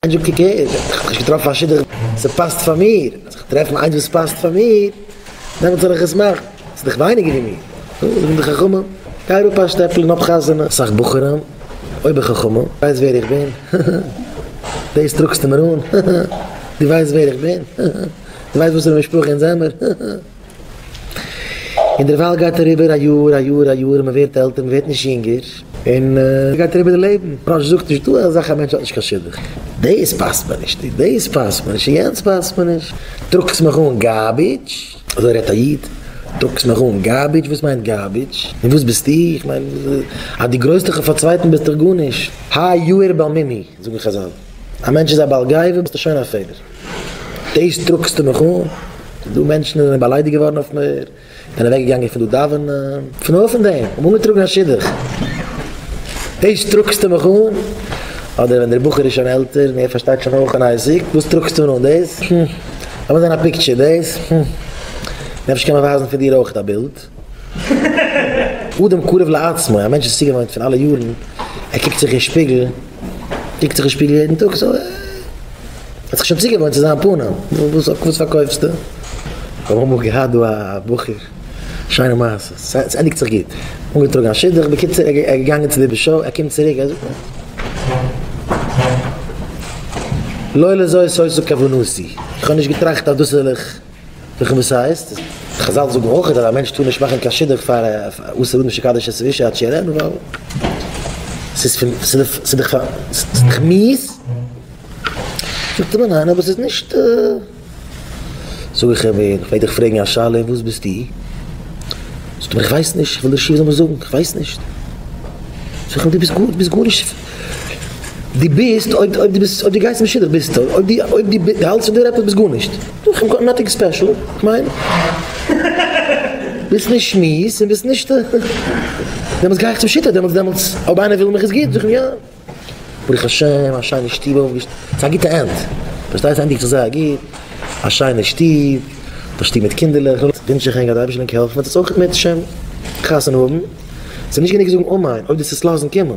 איינס זאגט איך הער, איך האב נישט געטראפן א שידוך וואס פאסט פאר מיר, אז איך טרעף איינס וואס פאסט פאר מיר, דעמאלטס זאל איך עס מאכן, עס איז דאך ווייניגער ווי מיר, נו, זאגן די חכמים, גיי אראפ א שטעפל און האב חתונה, אסאך בחורים, אויב איך חכמה, ווייסט ווער איך בין, הא הא, דאס טראגסטו מיר אן, הא הא, דו ווייסט ווער איך בין, הא הא, דו ווייסט וואסערע משפחה אונז זעמער, הא הא. און דערווייל גייט אריבער א יאר, א יאר, א יאר, און מען ווערט עלטער, מען ווערט נישט יונגער, און גייט אריבער די לעבן. רש י זאגט נישט דא אזאך א מענטש האט נישט קיין שידוך. דאס פאסט מיר נישט, און דאס פאסט מיר נישט, און יענץ פאסט מיר נישט. טראגסט מיך אן גארבידזש. אזוי רעדט א איד. טראגסט מיך אן גארבידזש? וואס מיינט גארבידזש? און וואס ביסטו? איך מיין אז דו גרויסט דיך אויף א צווייטן ביסטו גארנישט. הא יאיר בעל מימי, זאגן חזל. א מענטש איז א בעל גאוה ביסטו שוין א פעלער. דאס דרוקסטו מיך אן, דא מענטשן זענען באליידיגט געווארן אויף מיר, זענען אוועק געגאנגען פון דא דאווענען, פון אויסן דעם, האבן אנגעטראגן א שידוך, דאס דרוקסטו מיך אן, אדער ווען דער בחור איז שוין עלטער און ער פארשטייט שוין אויך און אייסיק, וואס טראגסטו אן דאס, הום, לאמיר זען א פיקטשער, דאס, הום, נפש קען מען ווייזן פון דיר אויך א בילד. אדם קרוב לעצמו, א מענטש איז צוגעוואוינט פון אלע יארן, ער קוקט זיך אין שפיגל, קוקט זיך אין שפיגל יעדן טאג, סאו ער האט זיך שוין צוגעוואוינט צו זיין פנים, וואס וואס פארקויפסטו? כ'האב אמאל געהאט דא א בחור, שיינע מעשה, ס'ענדיגט זיך גוט, אנגעטראגן א שידוך, בקיצור ער איז געגאנגען צו די ב ש, ער קומט צוריק ער זאגט לא לזאת הייתה כוונתי, איך האב נישט געטראכט אז דאס וועל איך זוכן וואס ס'הייסט. חזל זאגן אויך אז א מענטש טאר נישט מאכן קיין שידוך פאר עשרה אנשים שקדש את האישה עד שיראה עיניו ווייל ס'דאך מיאוס. זאגט ער מיר ניין אבער ס'איז נישט. זאג איך אים איך מעג דיך פרעגן א שאלה און וואס ביסטו? זאגט ער מיר איך ווייס נישט איך וויל דיר שיעור זאלן מיר זאגן איך ווייס נישט. זאג איך אים דו ביסט גארנישט. די ביסט אויב אויב די ביסט אויב די גייסט אין שידוך ביסטו אויב די אויב די די האלטסט פון דיר עפעס ביסט גארנישט איך גאט נאטינג ספעשל איך מיין ביסט נישט שמועס און ביסט נישט דעמאלטס גיי איך צום שיטה דעמאלטס דעמאלטס אויב איינער וויל מיך עס גוט זאג אים יא ברוך השם א שיינע שטוב אויפגעשטעלט ס'איז א גוטע ענד פארשטייסט ענדיגט זיך זייער גוט א שיינע שטוב א שטוב מיט קינדערלעך ווינטש איך ענק אז די אייבישטער זאל ענק העלפן וועט עס אויך בעזהשם חתונה האבן ס'איז נישט גענוג זאגן אמן אויב דו עסט עס לאזן קומען.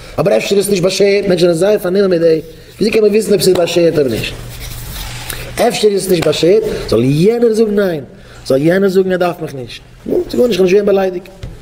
אבער אפשר איז עס נישט באשערט, מענטשן זענען זייער פארנומען מיט דעם, וויאזוי קען מען וויסן אויב עס איז באשערט אדער נישט? אפשר איז עס נישט באשערט, זאל יענער זאגן ניין, זאל יענער זאגן ער דארף מיך נישט, נו, ס'איז גארנישט, כ'בין נישט געווען באליידיגט.